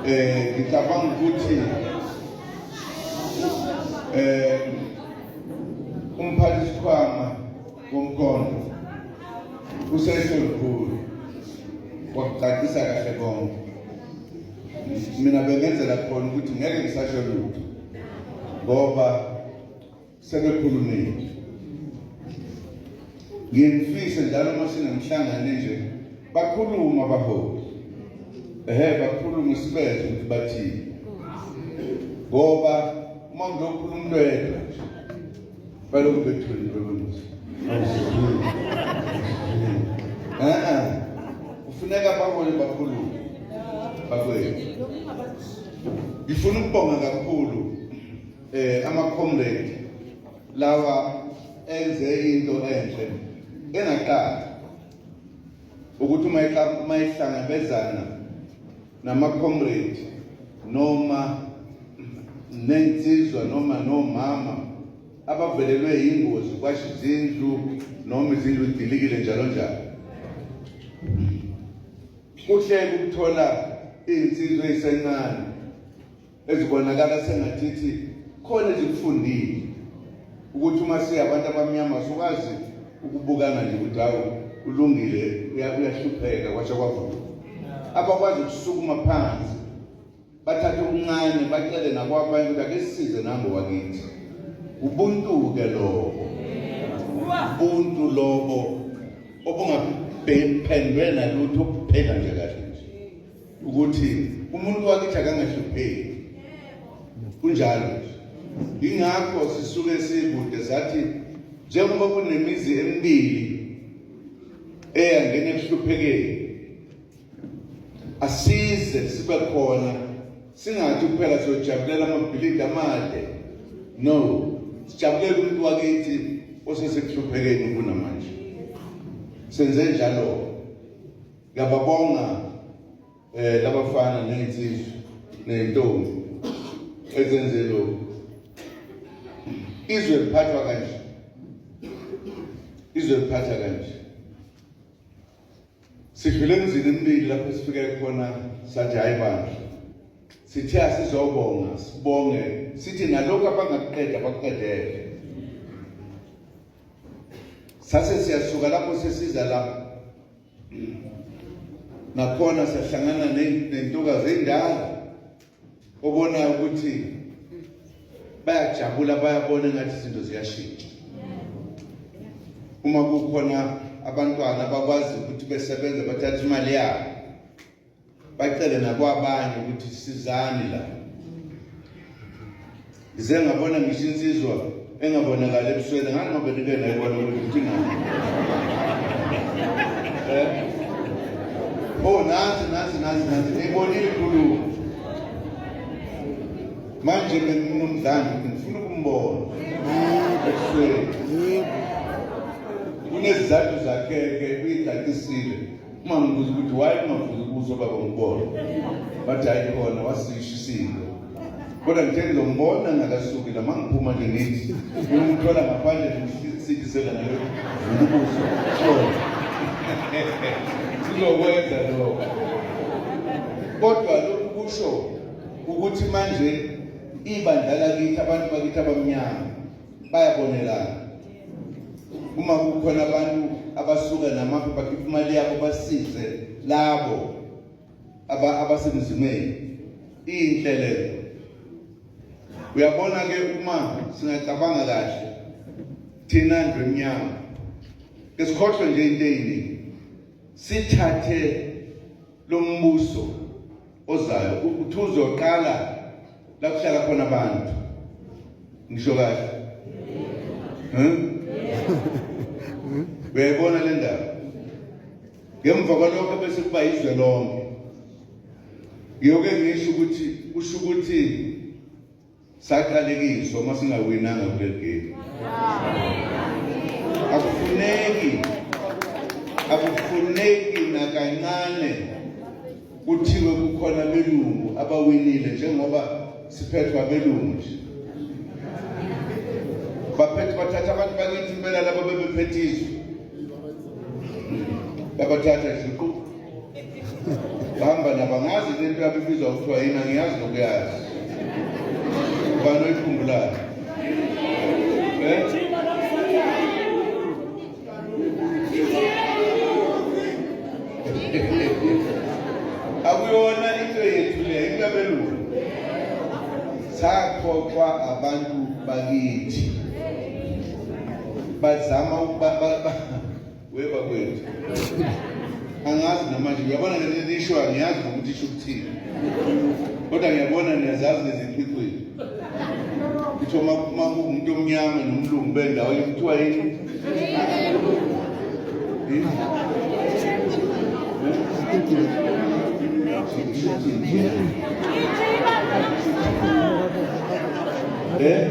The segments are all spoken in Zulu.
eh ngicabanga ukuthi eh umphathi sikhwama womkhondo usesho lukhulu wakucacisa kahle konke mina bengenzela khona ukuthi ngeke ngisasho lutho ngoba sebekhulumile ngiyemfise njalo uma sinomhlangano nje bakhuluma abaholi ehe bakhulume isibeze ukuthi bathini ngoba uma ngizokhuluma umntu yedwa balokhu bethulile bebemuzi e-e kufuneka abaholi bakhulume bakwethu ngifuna ukubonga kakhulu eh amacomrade lawa enze into enhle engaqala ukuthi uma uma ihlangabezana namacomrade noma nensizwa noma nomama abavelelwe yingozi kwasho izindlu noma izindlu idilikile njalo njalo kuhle ukuthola insizwa esencane ezibonakala sengathithi khona ezikufundile ukuthi uma siya abantu abamnyama sokwazi ukubukana nje ukuthi hawu ulungile uyahlupheka kwasha kwavuka abakwazi ukusukuma phansi bathathe okuncane bacele nakwabanye ukuthi ake sisize nango wakithi ubuntu-ke lobo ubuntu lobo obungaphendwe nalutho obupheka nje kahle ukuthi umuntu wakithi akangahlupheki kunjalo ingakho sisuke sikude sathi njengoba kunemizi emibili eyangena ekuhluphekeni asize sibe khona singathi kuphela siyojabulela amabhilidi amade no sijabulela umuntu wakithi osesekuhluphekeni kunamanje senze njalo Ngiyababonga eh labafana nezinsizwa nentombi ezenze lokho. Izwe liphathwa kanje. Izwe liphatha kanje. Sidlule emzini emibili lapho sifike khona sathi hayi bandla. Sithe asizobonga, sibonge, sithi nalokho abangakuqeda bakuqedele. Sase siyasuka lapho sesiza lapho nakhona siyahlangana nentokazi endala obonayo ukuthi bayajabula bayabona ngathi izinto ziyashintsha uma kukhona abantwana bakwazi ukuthi besebenze bathathe imali yabo bacele nakwabanye ukuthi sizani la ngize ngabona ngisho insizwa engabonakali ebusweni ngani ngoba ndike nayibona ukuthi uthingani eh? oh nazi nazi nazi nazi ngibonile inkulumo manje benginomdlalo ngifuna ukumbona ebusweni kunezizathu zakhe-ke uyidatisile uma ngibuza ukuthi waye ungavuki kuzo baba ngibona bathi hayi khona wasisho isinto kodwa ngithe ngizombona ngakasuki la mangiphuma nje ngithi ngimthola ngaphandle ngimsindisela nayo ubuso sizokwenza lokho kodwa lokhu kusho ukuthi manje ibandla lakithi abantu bakithi abamnyama bayabonelana uma kukhona abantu abasuka namafa bakhipha imali yabo basize labo abasemzimeni inhle leyo uyabona ke uma singacabanga kahle thina ndlu emnyama ke sikhohlwe nje into eyiningi sithathe lo mbuso ozayo uthi uzoqala la kuhlala khona abantu ngisho kahle uyayibona le ndaba ngemva kwalokho bese kuba yizwe lonke ngiyoke ngisho ukuthi usho ukuthi saqalekiswa uma singawinanga kuleli game akufuneki akufuneki nakancane kuthiwe kukhona belungu abawinile njengoba siphethwa belungu nje baphethe bathatha abantu bakithi impela laba bebephethe izwe yabathatha iziqu bahamba nabo angazi lento yabo ibizwa kuthiwa yini angiyazi nokuyazi ubani oyikhumbulayo um akuyona into yethu le into yabelungu sakhohlwa abantu bakithi bazama weba kwethu angazi namanje ngiyabona ngene nisho angiyazi nokuthi isho ukuthini kodwa ngiyabona niyazazi neziqhiqhile kuthiwa uma uma kuwumuntu omnyama nomlungu bendawo kuthiwa yini Eh?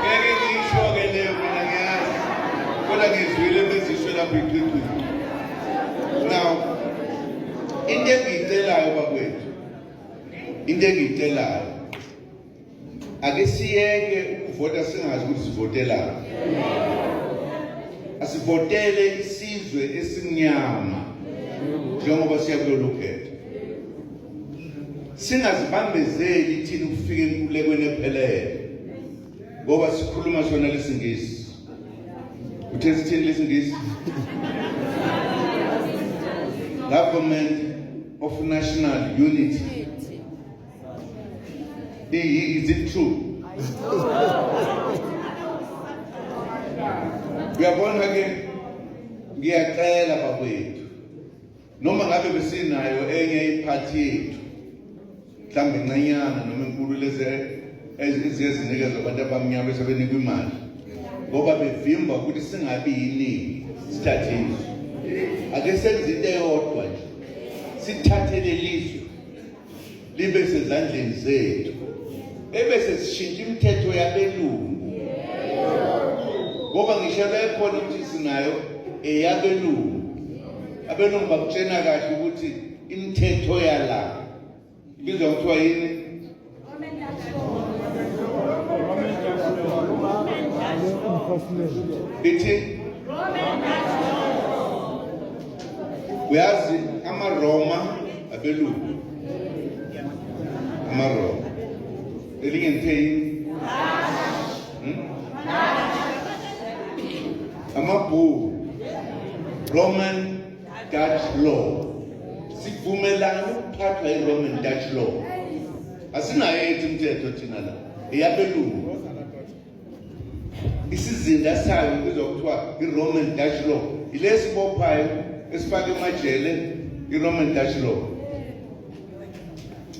ngeke ngiyisho-ke leyo mina ngiyazi kodwa ngizwile bezisho lapho igqigqile now into engiyicelayo bakwethu into engiyicelayo ake siyeke ukuvota singazi ukuthi sivotelani asivotele isizwe esimnyama njengoba siya kulolu khetho singazibambezeli thina ukufika enkulekweni ephelele ngoba sikhuluma sona lesingisi uthe sithini lesingisi government of national unity is it true uyabona ke ngiyacela bakwethu noma ngabe besinayo enye iphathi yethu mhlawumbe incanyana noma enkulu lezi eziye zinikezwa abantu abamnyama esebenikwa imali ngoba bevimba ukuthi singabi yiningi sithathe izwe ake senze into eyodwa nje sithathele lizwe libe sezandleni zethu bebe sesishintsha imithetho yabelungu ngoba ngisho bekhona ukuthi sinayo eyabelungu abelungu bakutshena kahle ukuthi imithetho yala ibizwa kuthiwa yini bithi uyazi amaroma abelungu amaroma elinye ngithe yini hmm? amabhuku roman dutch law sivumelana ukuphathwa yi-roman dutch law asinayo ethi imithetho thina la eyabelungu isizinda sayo kubizwa kuthiwa i-roman dutch law yile sibophayo esifake emajele i-roman dutch law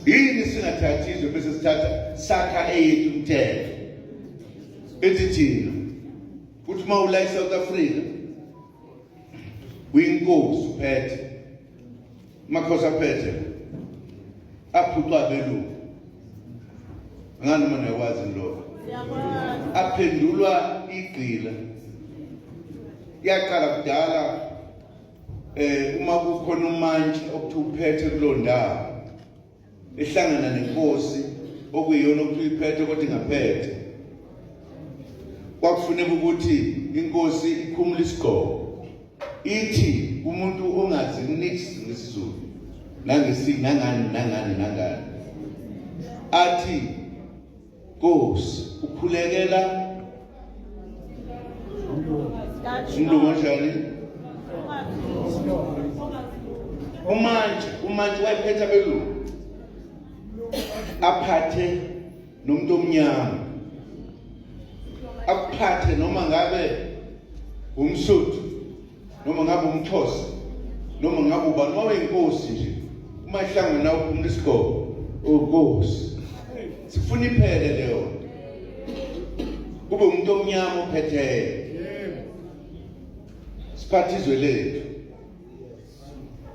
yini singathathi izwe bese sithatha sakha eyethu umthetho ethi thina kuthi uma ula i-south africa uyinkosi uphethe Makhosi aphethe aphucwa belungu ngani uma niyakwazi lokho aphendulwa igqila yaqala kudala eh uma kukhona umantshi okuthiwa uphethe kuloo ndawo ehlangana nenkosi okuyiyona okuthiwa iphethe kodwa ingaphethe kwakufuneka ukuthi inkosi ikhumule isigqoko ithi umuntu ongazi nix ngesizulu nangesi nangani nangani nangani athi Nkosi ukhulekela umlungu onjani umantshi umantshi wayephetha belungu aphathe nomuntu omnyama akuphathe noma ngabe umsuthu noma ngabe umxhosa noma ngabe ubani uma uyinkosi nje uma ihlangana nawe uphumula isigqoko uwukosi sifuna iphele leyo kube umuntu omnyama ophetheyo siphathe izwe lethu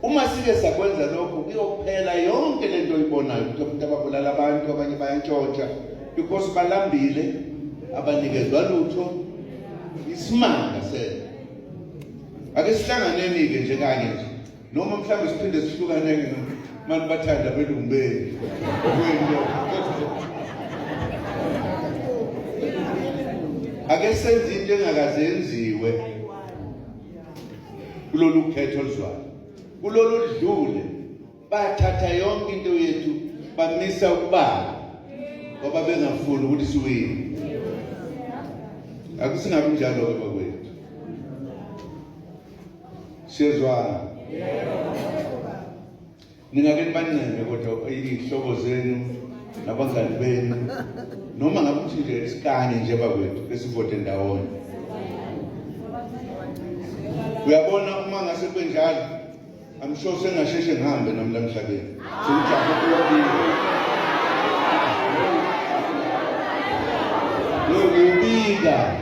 Uma sike sakwenza lokho kuyophela yonke lento oyibonayo ukuthi abantu ababulala abantu abanye bayantshontsha because balambile abanikezwa lutho isimanga sena ake sihlanganeni ke nje kanye nje noma mhlawumbe siphinde sihlukane ke manje bathanda belungu benu ake senze into engakazenziwe kulolu khetho oluzwayo kulolu oludlule bathatha yonke into yethu bamisa ukubala ngoba bengafuni ukuthi siwini akusingabi njalo-ke bakwethu siyezwana Ningake nibancenge kodwa iy'hlobo zenu nabangani benu noma ngabe ukuthi nje sikanye nje bakwethu besivote ndawonye. Uyabona uma ngase kwenjalo I'm sure sengasheshe ngihambe nami la mhlabeni. Sengijahe kuyophila. Yokubika.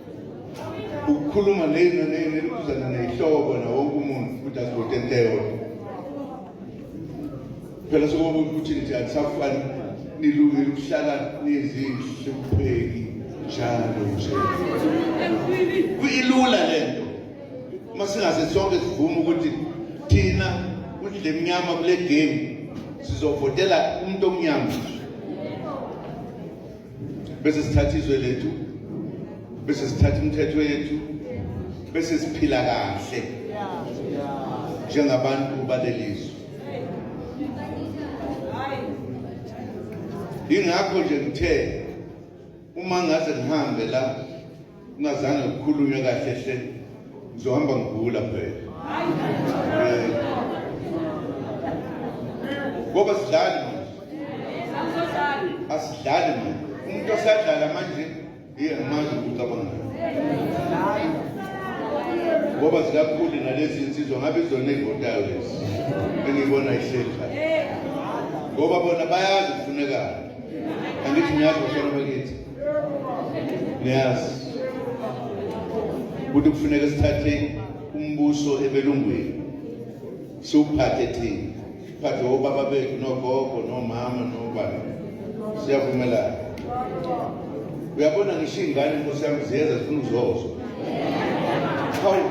ukukhuluma lena nene elibuzana neyihlobo nawo wonke umuntu ukuthi asivote into eyodwa phela sokuba ukuthi nje anisafani nilungile ukuhlala nezinhle kupheki njalo nje kuyilula le nto uma singase sonke sivume ukuthi thina kudle emnyama kule game sizovotela umuntu omnyama bese sithatha izwe lethu bese sithatha imithetho yethu bese siphila kahle njengabantu balelizwe ingakho nje ngithe uma ngaze ngihambe la Ungazange kukhulunywe kahle hle. Ngizohamba ngigula phela. Eh. Ngoba sidlali manje. Asidlali manje. Umuntu osadlala manje yena manje ucabanga. Ngoba zikakhulu nalezi insizwa ngabe izona ezivotayo lezi. Engibona ihleli phansi. Ngoba bona bayazi kufunekani. Angithi ngiyazi kufanele bakithi. niyazi ukuthi kufuneka sithathe umbuso ebelungwini siwuphathe thina phathe obaba bethu nogogo nomama nobani siyavumelana uyabona ngisho iy'ngane nkosi yami ziyeza zifuna ukuzozo hawu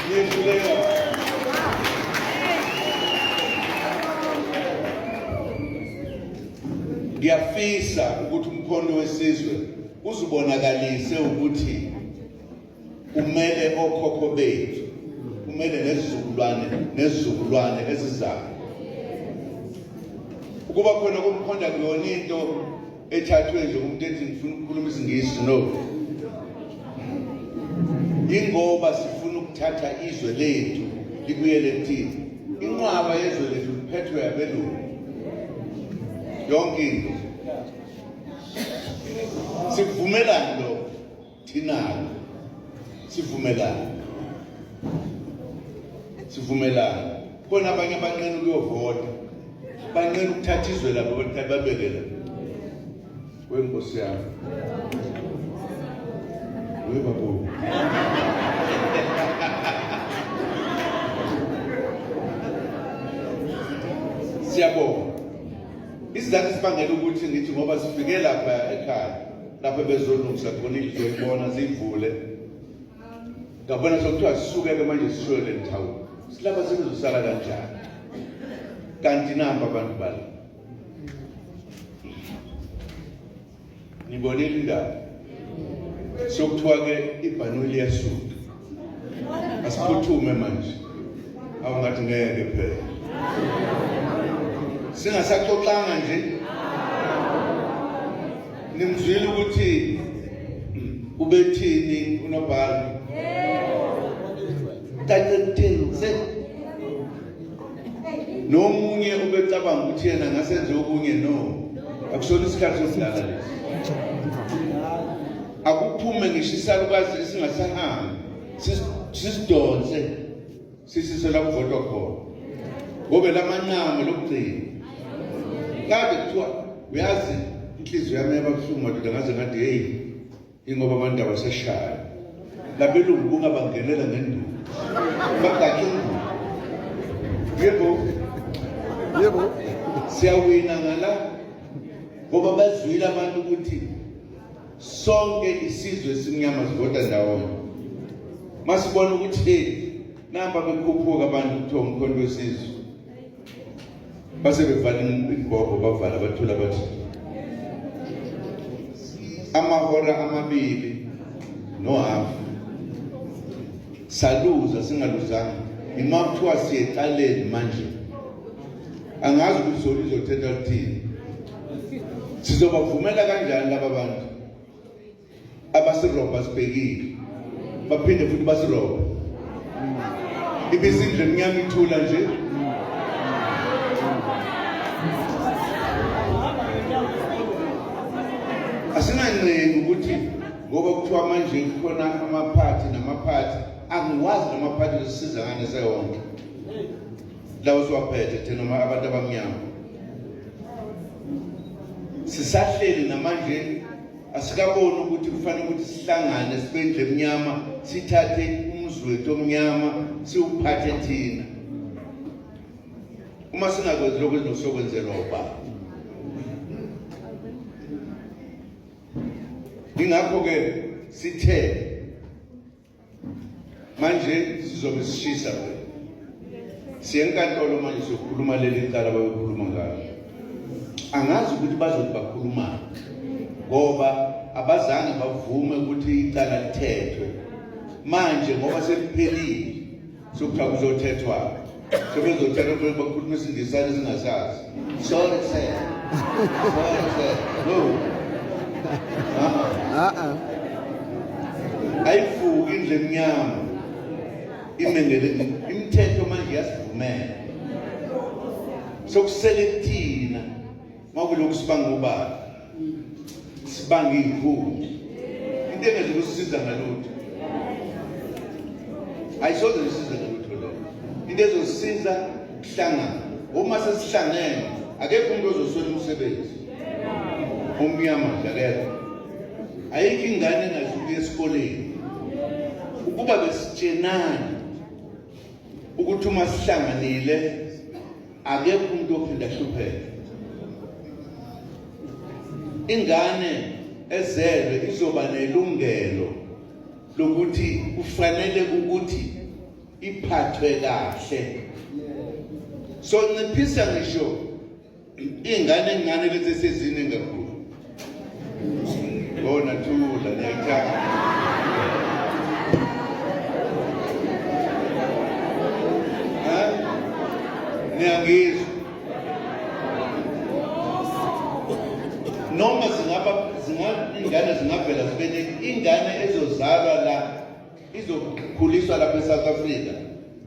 niyehluleka Ngiyafisa ukuthi umkhondo wesizwe uzibonakalise ukuthi umele okhokho bethu kumele nezizukulwane nezizukulwane ezizayo ukuba khona komkhonda kuyona into ethathwe nje umuntu ethi ngifuna ukukhuluma isingisi no ingoba sifuna ukuthatha izwe lethu libuyele kuthina inqwaba yezwe lethu liphethwe abelungu yonke into sivumelani lo thinayo sivumelani sivumelani khona abanye abanqena ukuyovota banqena ukuthatha izwe labo babekela Wewe mkosi yako. Wewe babu. Siyabonga. Isizathu sibangela ukuthi ngithi ngoba sifike lapha ekhaya lapho bezolungisa khona indlu yoyibona zivule. Ngabona sokuthiwa sisuke-ke manje sishiwe le nthawula. Silapha singizosala kanjani? Kanti namba abantu bala. nibonile indaba sokuthiwa ke ibhanoyi liyasuka asiphuthume manje awungathi ngeke phela singasaxoxanga nje nimzwile ukuthi ubethini unobhala kanye kuthini nomunye ubecabanga ukuthi yena ngasenze okunye no akusona isikhathi sokudlala lesi akuphume ngisho isalukazi esingasahambi sisidonse sisise la kuvotwa khona ngobe lamanqamu lokugcina kade kuthiwa uyazi inhliziyo yami yababuhlungu madoda ngaze ngathi heyi Ingoba abantu abaseshayo. Labelungu bungabangenela ngenduku. Bagakhe induku. Yebo. Yebo. Siyawina ngala ngoba bazwile abantu ukuthi sonke isizwe esimnyama sivota ndawonye. Masibona ukuthi hey namba bekhuphuka abantu kuthiwa umkhonto wesizwe. base bevala imboko bavala bathula bathi amahora amabili nohafu saluza singaluzanga ima kuthiwa siyeqaleni manje angazi ukuthi zona izothetha kuthini sizobavumela kanjani laba bantu abasirobha sibhekile baphinde futhi basirobha ibisindle mnyama ithula nje asinancenga ukuthi ngoba kuthiwa manje kukhona amaphathi namaphathi angiwazi namaphathi lesiza ngane sewonke lawo siwaphethe thina noma abantu abamnyama sisahleli namanje asikaboni ukuthi kufanele ukuthi sihlangane sibendle emnyama sithathe umuzi wethu omnyama siwuphathe thina uma singakwenzi lokho ezinosokwenzelwa ubaba ingakho-ke sithe manje sizobe sishisa ke siye enkantolo manje sokhuluma leli icala bayokhuluma ngalo angazi ukuthi bazothi bakhuluma ngoba abazange bavume ukuthi icala lithethwe manje ngoba seliphelile Sokuthiwa kuzothethwa-ke. Sebezothethwa phela bakhuluma isingisana esingasazi. Sorry sir. Sorry sir. No. Uh-uh. Ayivuki indle emnyama. Imengele imithetho manje yasivumela. Sokusele thina Makulokhu sibanga ubani? Sibanga inkunzi. Into engeze kusisiza ngalutho. Ayisoze kusiza ngalutho leyo. Into ezosiza kuhlangana. Uma sesihlangene akekho umuntu ozoswela umsebenzi. Umnyama nje akekho. Ayikho ingane engasuki esikoleni. Ukuba besitshenana ukuthi uma sihlanganile akekho umuntu ophinda hlupheke ingane ezelwe izoba nelungelo lokuthi kufanele ukuthi iphathwe kahle so nciphisa ngisho ingane ingane lezi sezine kakhulu Bona thula niyangithanda. Niyangizwa. Noma zingaba zingane zingavela zibe ingane ezozalwa la izokhuliswa lapha eSouth Africa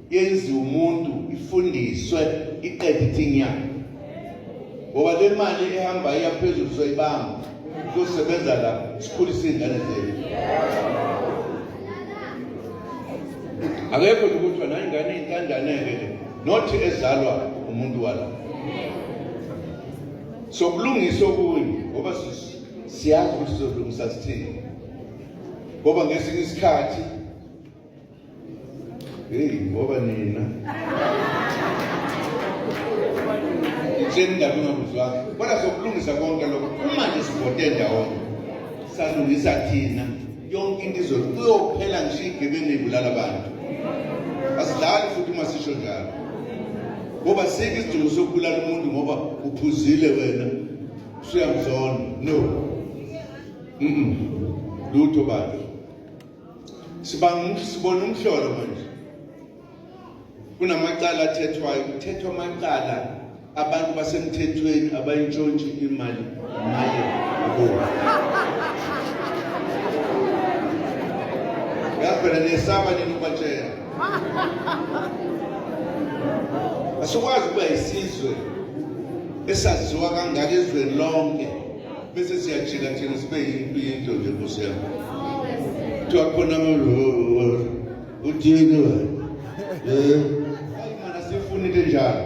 yenziwe umuntu ifundiswe iqede ithinyana ngoba le mali ehamba iya phezulu soyibamba sosebenza la sikhulise iy'ngane zethu akekho nje kuthiwa nayingane iy'ntandaneke le nothi ezalwa umuntu wala sokulungisa okunye ngoba siyazi ukuthi sizolungisa sithini ngoba ngesinye isikhathi hey ngoba nina itseni ngabe ungamuzwanga kodwa sokulungisa konke lokho uma nje sivote ndawonye salungisa thina yonke into izothi kuyophela ngisho igebengu ibulala abantu asidlali futhi uma sisho njalo ngoba sike isidingo sokubulala umuntu ngoba uphuzile wena usuyamzona no Mm. Lutho baba. Sibanga sibona umhlolo manje. Kunamacala athethwayo, kuthethwa amacala abantu basemthethweni abayintshontshe imali maye kubo. Yaphela nesaba nini ubatshela. Asikwazi ukuba isizwe esaziwa kangaka ezweni lonke. bese siyajika thina sibe yinto nje nkosi yami kuthiwa khona uthini wena um ayi mana sifunile njalo